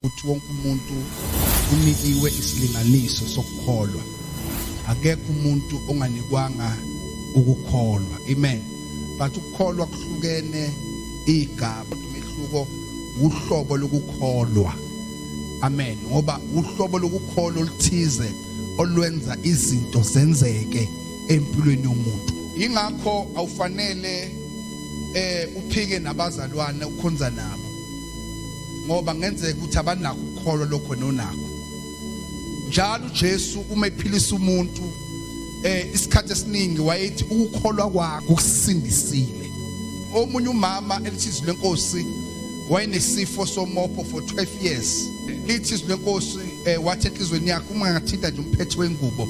ukuthi wonke umuntu unikiwe isilinganiso sokukholwa akekho umuntu onganikwanga ukukholwa amen but ukukholwa kuhlukene igaba umehluko uhlobo lokukholwa amen ngoba uhlobo lokukholwa oluthize olwenza izinto zenzeke empilweni yomuntu ingakho awufanele eh uphike nabazalwane ukhonza nabo ngoba ngenzeka ukuthi abanako ukukholwa lokho nonako njalo uJesu uma ephilisa umuntu eh isikhathi esiningi wayethi ukukholwa kwakho kusindisile omunye umama elithizwe lenkosi wayenesifo somopho for 12 years lithizwe lenkosi eh, wathi enhlizweni yakhe uma ngathinta nje umphetho wengubo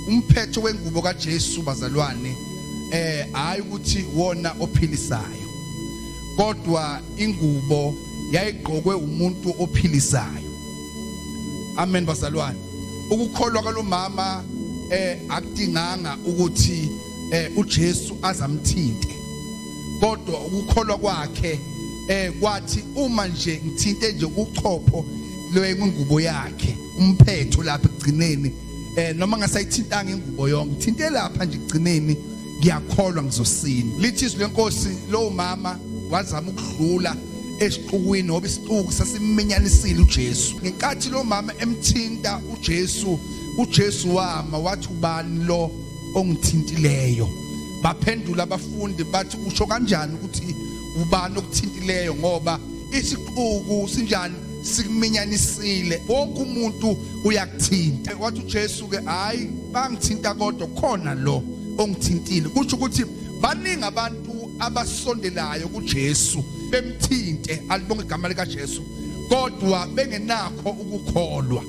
umphetho wengubo kaJesu bazalwane eh hayi ukuthi wona ophilisayo kodwa ingubo yayigqokwe umuntu ophilisayo amen bazalwane ukukholwa kwalomama eh akudinganga ukuthi eh uJesu azamthinte kodwa ukukholwa kwakhe eh kwathi uma nje ngithinte nje uchopho lwengubo yakhe umphetho lapha ekugcineni eh noma ngasayithintanga ingubo yonke ngithinte lapha nje ekugcineni ngiyakholwa ngizosina lithi izwi lenkosi lowo mama wazama ukudlula esixukwini ngoba isixuku sasiminyanisile uJesu ngenkathi lo mama emthinta uJesu uJesu wama wathi ubani lo ongithintileyo baphendula abafundi bathi usho kanjani ukuthi ubani okuthintileyo ngoba isixuku sinjani sikuminyanisile wonke umuntu uyakuthinta wathi uJesu ke hayi bangithinta kodwa khona lo ongithintile kusho ukuthi baningi abantu abasondelayo kuJesu bemthinte alibonge igama lika Jesu kodwa bengenakho ukukholwa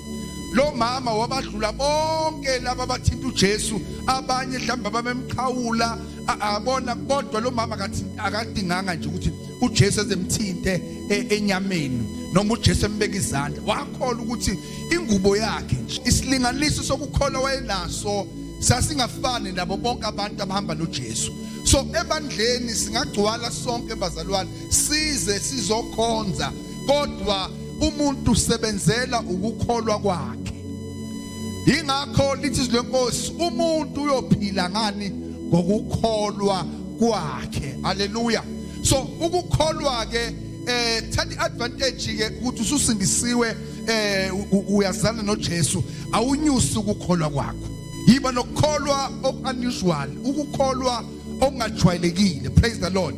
lo mama wabadlula bonke laba bathinta uJesu abanye mhlawumbe abamemqhawula abona kodwa lo mama akathi akadinganga nje ukuthi uJesu ezemthinte e, enyameni noma uJesu embeka izandla wakholwa ukuthi ingubo yakhe nje isilinganiso sokukholwa wayenaso sasingafani nabo bonke abantu abahamba noJesu so ebandleni singagcwala sonke bazalwane size sizokhonza kodwa umuntu usebenzela ukukholwa kwakhe ingakho lithi izwi lenkosi umuntu uyophila ngani ngokukholwa kwakhe haleluya so ukukholwa ke eh thatha iadvantage ke ukuthi ususindisiwe eh uyazana noJesu awunyusi ukukholwa kwakho yiba nokukholwa okunusual ukukholwa okungajwayelekile praise the lord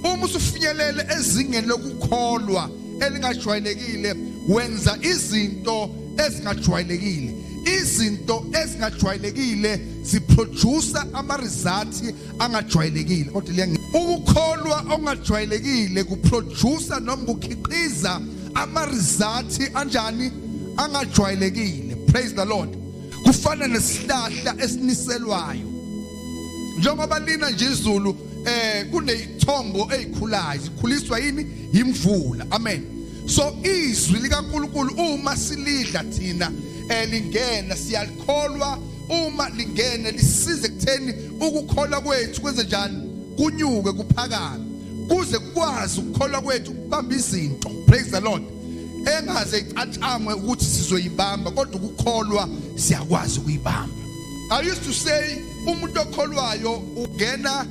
uma usufinyelele ezingeni lokukholwa elingajwayelekile wenza izinto ezingajwayelekile izinto ezingajwayelekile ziproduce ama results angajwayelekile kodwa liyangi ukukholwa okungajwayelekile kuproducer noma kukhiqiza ama results anjani angajwayelekile praise the lord kufana nesihlahla esiniselwayo njengoba lina nje izulu eh kunezithombo ezikhulayo zikhuliswa yini yimvula amen so izwi likaNkuluNkulu uma silidla thina elingena eh, siyalikholwa uma lingene lisize kutheni ukukholwa kwethu kwenze njani kunyuke kuphakame kuze kwazi ukukholwa kwethu ukubamba izinto praise the lord engaze icathamwe ukuthi sizoyibamba kodwa ukukholwa siyakwazi ukuyibamba i used to say umuntu okholwayo ungena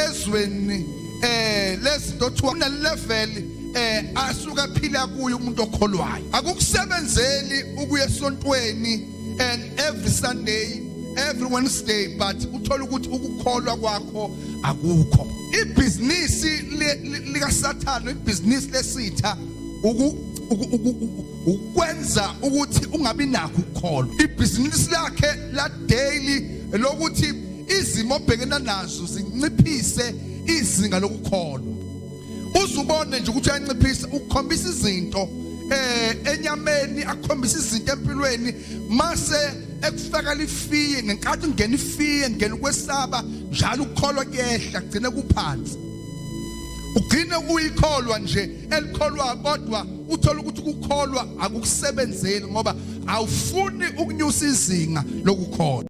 ezweni eh lezinto othiwa une level eh asuka phila kuyo umuntu okholwayo akukusebenzeli ukuya esontweni and every sunday every wednesday but uthola ukuthi ukukholwa kwakho akukho ibhizinisi likasathane ibhizinisi lesitha ukwenza ukuthi ungabi nakho ukukholwa ibhizinisi lakhe la daily lokuthi izimo obhekena nazo zinciphise izinga lokukholwa uzubone nje ukuthi uyanciphisa ukukhombisa izinto eh enyameni akukhombisa izinto empilweni mase ekufaka lifiye ngenkathi ungena ifiye ngena ukwesaba njalo ukukholwa kuyehla kugcine kuphansi ugcine uyikholwa nje elikholwa kodwa uthola ukuthi ukukholwa akukusebenzeli ngoba awufuni ukunyusa izinga lokukholwa